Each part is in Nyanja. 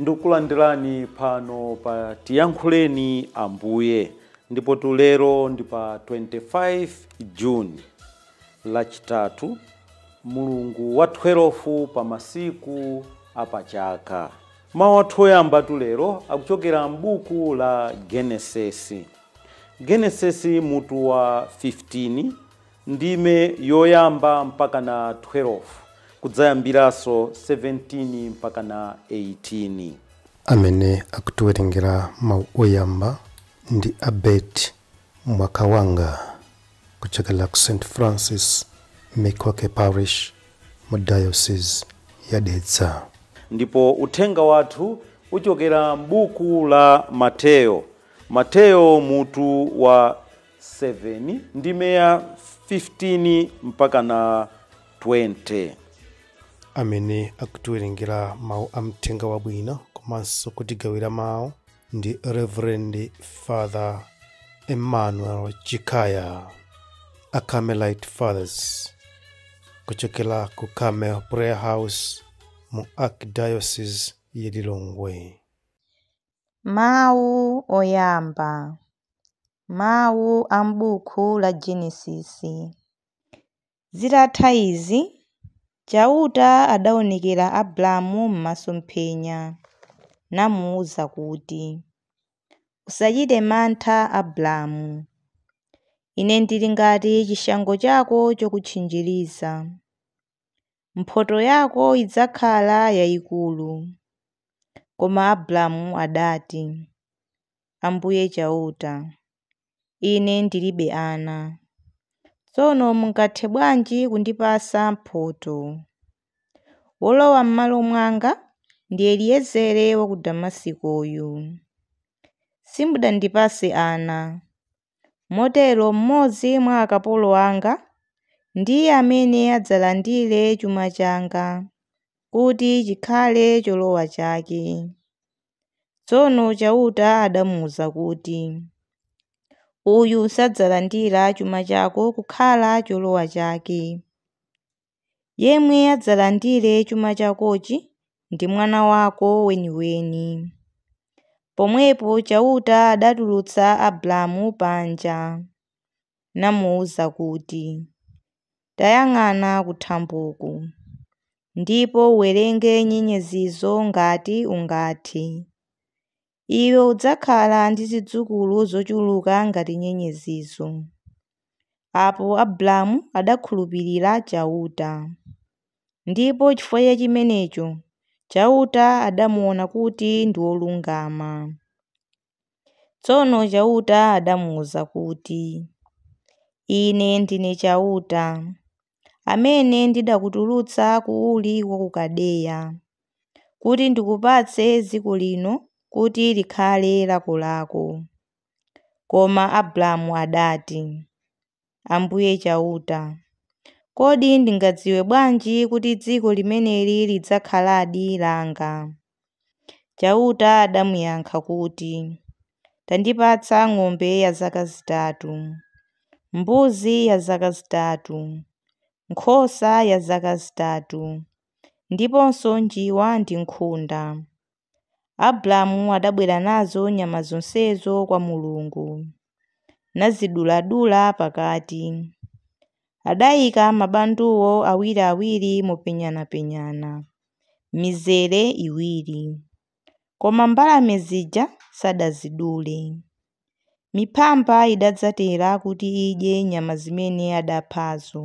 Ndikulandirani pano pa Tiyankhuleni Ambuye ndipo tulero ndi pa 25 Juni lachitatu mulungu wa 12 pa masiku apachaka. Mawu athu oyamba tulero akuchokera m'buku la Genesisi. Genesisi mutu wa 15 Ndime yoyamba mpakana 12, kudzayambiranso 17 mpakana 18. Amene akutiwerengera mawu oyamba ndi a Bert Mwakawanga kuchokera ku St. Francis Mikoke Parish mu Diocese ya Dedza. Ndipo uthenga wathu uchokera m'buku la Mateyo. Mateyo mutu wa 7 ndime ya 15 mpaka na 20 amene akutiwerengera mawu a m'uthenga wabwino komanso kutigawira mawu ndi reverend father emmanuel chikaya a carmelite fathers kuchokera ku carmel prayer house mu archdiocese ya lilongwe Mawu oyamba, mawu a m'buku la Genesisi. Zitatha izi, Chauta adaonekera Abramu m'masomphenya, namuuza kuti, Usachite mantha Abramu. Ine ndili ngati chishango chako chokutchinjiriza. mphotho yako idzakhala yayikulu. Koma Abramu adati, Ambuye Chauta, ine ndilibe ana. Tsono mungathe bwanji kundipasa mphotho? Wolowa m'malo mwanga ndi Eliezere wa ku Damasikoyu. Simudandipase ana, Motero mmodzi mwa akapolo anga ndiye amene adzalandire chuma changa kuti chikhale cholowa chake. Tsono Chauta adamuuza kuti, Uyu sadzalandira chuma chako kukhala cholowa chake. Yemwe adzalandire chuma chakochi ndi mwana wako weniweni. Pomwepo Chauta adatulutsa Abramu panja, namuuza kuti, Tayang'ana kuthamboku, ndipo uwerenge nyenyezizo ngati ungathe. iwe udzakhala ndi zidzukulu zochuluka ngati nyenyezizo. Apo Abramu adakhulupirira Chauta. Ndipo chifukwa cha chimenecho Chauta adamuwona kuti ndi wolungama. Tsono Chauta adamuuza kuti, Ine ndine Chauta. amene ndidakutulutsa ku Uri wa ku Kaldeya, kuti ndikupatse dziko lino kuti likhale lakolako. Koma Abramu adati, Ambuye Chauta, kodi ndingadziwe bwanji kuti dziko limeneli lidzakhaladi langa? Chauta adamuyankha kuti, Tandipatsa ng'ombe ya zaka zitatu, mbuzi ya zaka zitatu, nkhosa ya zaka zitatu, ndiponso njiwa ndi nkhunda. Abramu adabwera nazo nyama zonsezo kwa Mulungu. naziduladula pakati. Adaika mabanduwo awiriawiri mopenyanapenyana, m'mizere iwiri. Koma mbalame zija sadazidule. Miphamba idadzatera kuti idye nyama zimene adaphazo,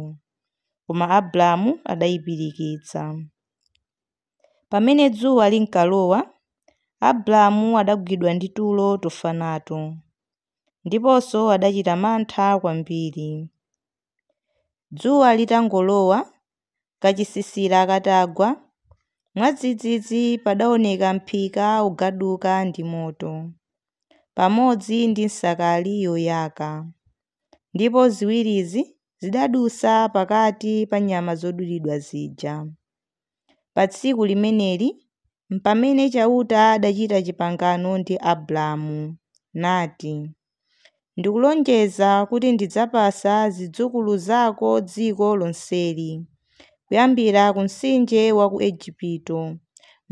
koma Abramu adaipirikitsa. Pamene dzuwa linkalowa, Abramu adagwidwa ndi tulo tofa nato, ndiponso adachita mantha kwambiri. Dzuwa litangolowa, kachisisira katagwa, mwadzidzidzi padaoneka mphika ukugaduka ndi moto, pamodzi ndi nsakali yoyaka, ndipo ziwirizi zidadutsa pakati pa nyama zodulidwa zija. Pa tsiku limeneli mpamene Chauta adachita chipangano ndi Abramu, nati, Ndikulonjeza kuti ndidzapasa zidzukulu zako dziko lonseli, kuyambira ku mtsinje wa ku Ejipito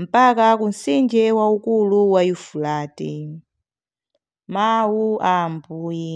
mpaka ku mtsinje waukulu wa Yufurate. Mau a Ambuye.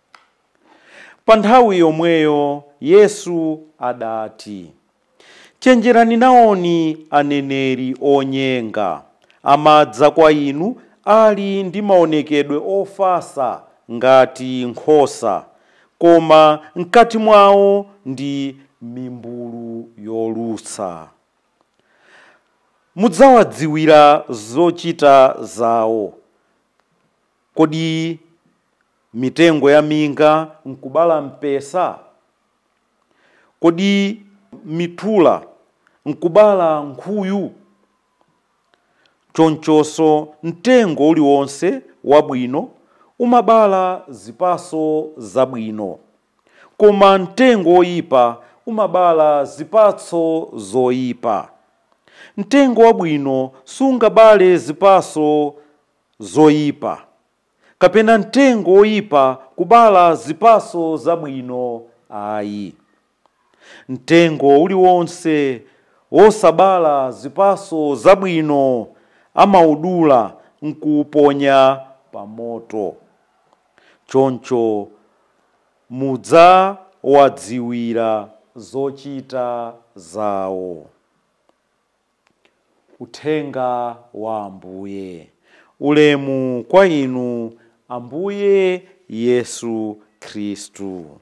Pa nthawi yomweyo Yesu adati, Chenjerani nawoni aneneri onyenga. Amadza kwa inu ali ndi maonekedwe ofatsa ngati nkhosa, koma m'kati mwao ndi mimbulu yolusa. Mudzawadziwira zochita zao. Kodi mitengo ya minga nkubala mpesa? Kodi mitula nkubala nkhuyu? Chonchonso mtengo uliwonse wabwino umabala zipatso zabwino, koma mtengo woipa umabala zipatso zoipa. Mtengo wabwino sungabale zipatso zoipa, kapena mtengo woyipa kubala zipatso zabwino ayi. Mtengo uliwonse wosabala zipatso zabwino amawudula n'kuwuponya pa moto. Choncho mudzawadziwira zochita zawo. Uthenga wa Ambuye. Ulemu kwa Inu, Ambuye Yesu Khristu.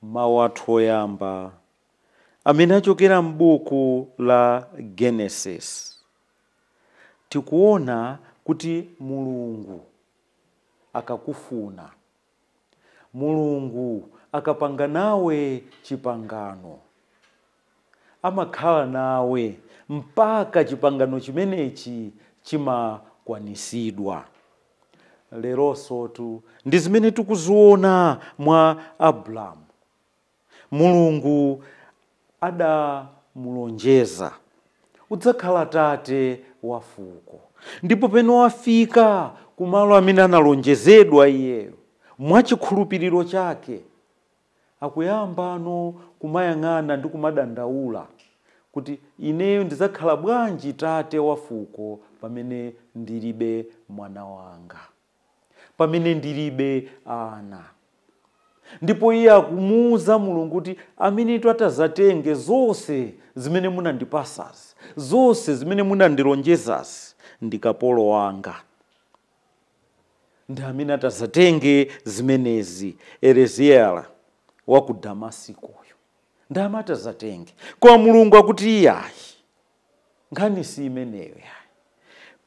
Mau athu oyamba amene achokera m'buku la Genesis, tikuona kuti Mulungu akakufuna. Mulungu akapanga nawe chipangano, amakhala nawe mpaka chipangano chimenechi chimakwanisidwa. Leronsotu ndi zimene tikuziona mwa Abramu. Mulungu adamulonjeza, Udzakhala tate wa fuko. Ndipo pamene wafika ku malo amene analonjezedwa, iyeyo, mwa chikhulupiriro chake, akuyambano kumayang'ana ndi kumadandaula kuti, Ineyo ndidzakhala bwanji tate wa fuko pamene ndiribe mwana wanga? pamene ndilibe ana ndipo iye akumuuza mulungu kuti amenetu atazatenge zonse zimene munandipasazi zonse zimene munandilonjezazi ndi kapolo wanga ndi amene atazatenge zimenezi Eleziela wa ku damasikoyo ndi amene atazatenge koma mulungu akuti iyayi Nkhani si imeneyo yayi.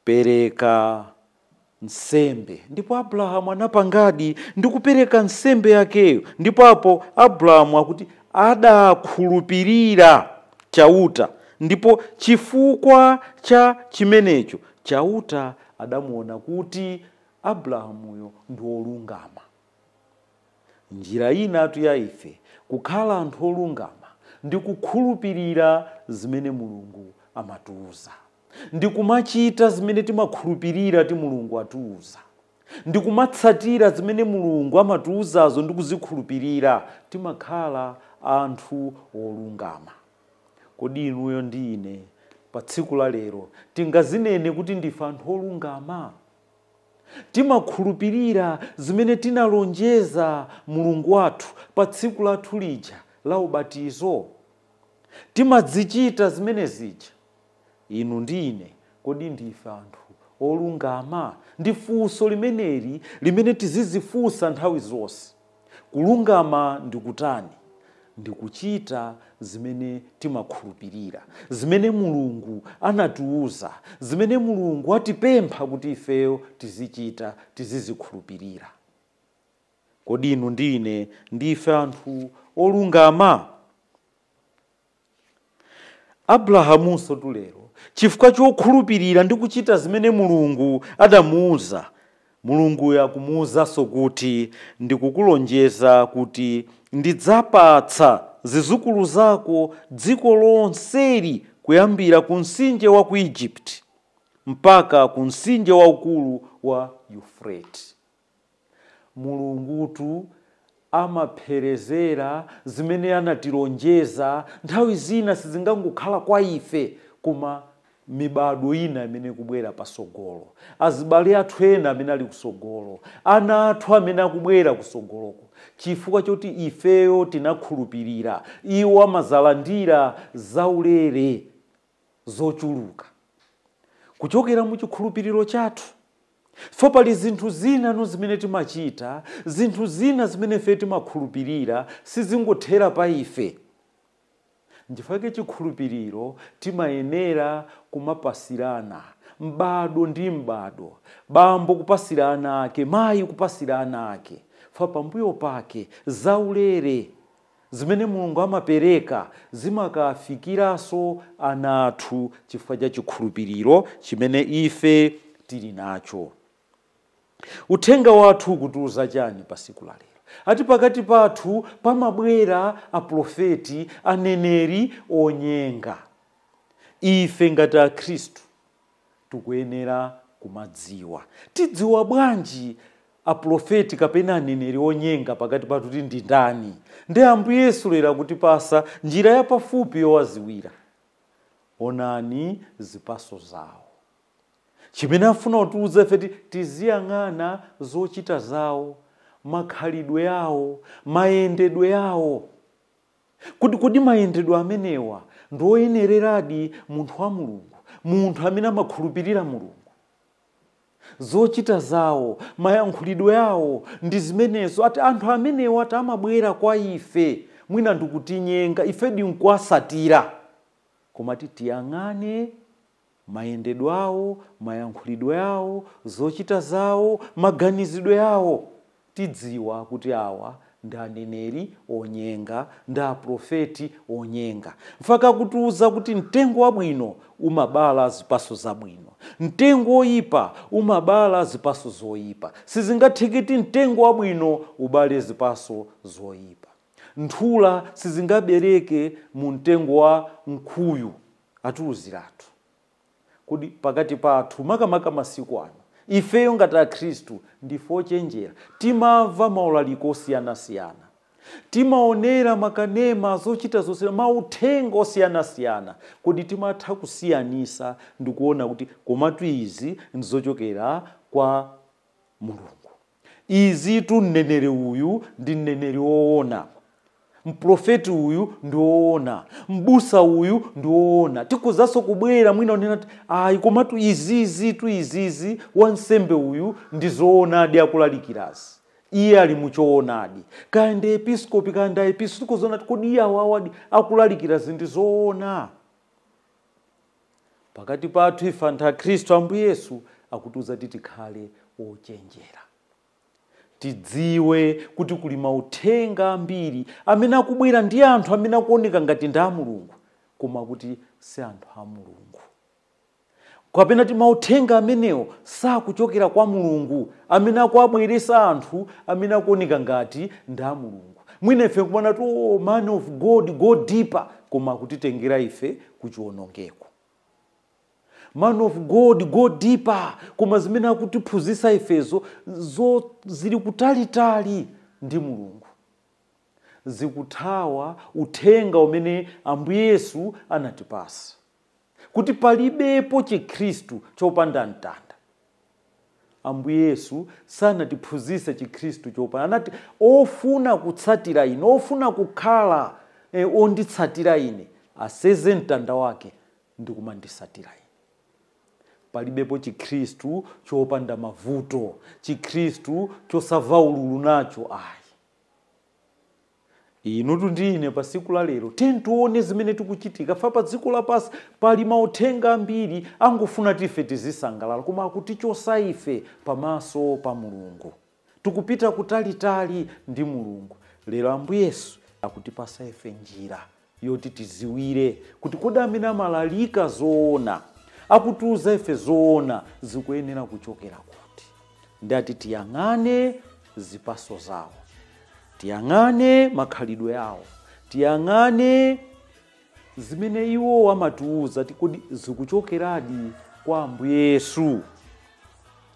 Pereka nsembe. Ndipo Abrahamu anapangadi ndi kupereka nsembe yakeyo. Ndipo apo Abrahamu akuti adakhulupirira Chauta, ndipo chifukwa cha chimenecho Chauta adamuwona kuti Abrahamuyo ndi wolungama. Njira inatu ya ife kukhala anthu olungama ndi kukhulupirira zimene Mulungu amatiuza, ndi kumachita zimene timakhulupirira kuti Mulungu atiuza, ndi kumatsatira zimene Mulungu amatiuzazo ndi kuzikhulupirira, timakhala anthu olungama. Kodi inuyo ndi ine pa tsiku la lero tingazinene kuti ndife anthu olungama? Timakhulupirira zimene tinalonjeza Mulungu wathu pa tsiku lathu lija la ubatizo? Timazichita zimene zija? Inu ndi ine, kodi ndife anthu olungama? Ndi funso limeneli limene tizizifunsa nthawi zonse. Kulungama ndi kutani? Ndi kuchita zimene timakhulupirira, zimene Mulungu anatiuza, zimene Mulungu atipempha kuti ifeyo tizichita, tizizikhulupirira. Kodi inu ndi ine ndife anthu olungama? Abrahamunsotu lero, chifukwa chokhulupirira ndi kuchita zimene Mulungu adamuuza, Mulunguyo akumuuzanso kuti, Ndikukulonjeza kuti ndidzapatsa zizukulu zako dziko lonseli kuyambira ku mtsinje wa ku Egypt mpaka ku mtsinje waukulu wa Yufurate. Mulungutu amapherezera zimene anatilonjeza, nthawi zina sizingangokhala kwa ife koma mibado ina imene ikubwera pasogolo, azibale athu ena amene ali kusogolo, ana athu amene akubwera kusogoloko. Chifukwa choti ifeyo tinakhulupirira, iwo amazalandira zaulere zochuluka kuchokera mu chikhulupiriro chathu. So pali zinthu zina zimene timachita, zinthu zina zimene ife timakhulupirira, sizingothera pa ife. Nchifukwa chake chikhulupiriro timayenera kumapasirana, m'bado ndi m'bado, bambo kupasira ana ake, mayi kupasira ana ake, chifukwa pambuyo pake zaulere. Zimene Mulungu amapereka zimakawafikiranso ana athu chifukwa cha chikhulupiriro chimene ife tili nacho. Uthenga wathu ukutiuza chani pa siku la lero? Ati pakati pathu pamabwera aprofeti, aneneri, onyenga. Ife ngati akhristu tikuyenera kumadziwa. Tidziwa bwanji Aprofeti kapena aneneri onyenga pakati pathu kuti ndi ndani? Ndi Ambuye Yesu lero akutipasa njira ya pafupi yowaziwira. Onani zipaso zawo. Chimene afuna kutiuza ife nti, tiziyang'ana zochita zawo, makhalidwe awo, mayendedwe awo. Kodi, kodi mayendedwe amenewa ndi oyenereradi munthu wa Mulungu, munthu amene amakhulupirira Mulungu? Zochita zawo, mayankhulidwe awo ndi zimenezo, ati anthu amenewa ati amabwera kwa ife, mwina ndikutinyenga, ife ndikuwasatira. Koma tiyang'ane Mayendedwe awo, mayankhulidwe awo, zochita zawo, maganizidwe awo. Tidziwa kuti awa ndi aneneri onyenga, ndi aprofeti onyenga. Nchifukwa chake akutiuza kuti mtengo wabwino umabala zipaso zabwino, mtengo oyipa umabala zipaso zoyipa. Sizingatheke kuti mtengo wabwino ubale zipaso zoyipa. Nthula sizingabereke mu mtengo wa mkuyu, atiuziratu. Kodi pakati pathu, makamaka masiku ano, ifeyo ngati Akhristu ndife ochenjera? Timamva maulaliko osiyanasiyana. Timaonera makanema, zochita zosiyana, mauthenga osiyanasiyana. Kodi timatha kusiyanisa ndikuona kuti komatu izi ndizochokera kwa Mulungu? Izitu mneneri uyu ndi mneneri woona, mprofeti uyu ndi woona, mbusa uyu ndi woona. Tikhozanso kubwera mwina unena kuti ayi, komatu izizitu izizi wansembe uyu ndi zoonadi akulalikirazi iye ali muchoonadi kaya ndi episkopi kaya ndi aepiskopi tikuziona kuti kodi iye awawadi akulalikirazi ndi zoona pakati pathu ife anthu akhristu ambuye yesu akutiuza kuti tikhale ochenjera tidziwe kuti kuli mauthenga ambiri amene akubwera ndi anthu amene akuoneka ngati ndi a mulungu koma kuti si anthu a mulungu kapena kuti mauthenga amenewo sakuchokera kwa mulungu amene akuwabweresa anthu amene akuoneka ngati ndi a mulungu mwina ife nkumanena kuti oh, man of god go deeper koma akutitengera ife kuchiwonongeko man of god go deeper koma zimene akutiphunzitsa ifezo zili kutalitali ndi mulungu zikuthawa uthenga umene ambuye yesu anatipasa kuti palibepo Chikhristu chopanda mtanda. Ambuye Yesu sanatiphunzitse Chikhristu chopanda, anati ofuna kutsatira ine, ofuna kukhala e, onditsatira ine aseze mtanda wake ndi kumanditsatira ine palibepo chikhristu chopanda mavuto chikhristu chosamva ululu nacho ayi inutu ndi ine pa siku la lero tiye tione zimene zikuchitika pa dziko lapansi pali mauthenga ambiri ongofuna kuti ife tizisangalala koma akutichosa ife pamaso pa mulungu tikupita kutalitali ndi mulungu lero ambuye yesu akutipasa ife njira yoti tiziwire kuti kodi amene amalalika zoona, akutiuza ife zoona zikuyenera kuchokera kuti. Ndati tiyang'ane zipaso zawo, tiyang'ane makhalidwe awo, tiyang'ane zimene iwo amatiuza ti kodi zikuchokeradi kwa Ambuye Yesu.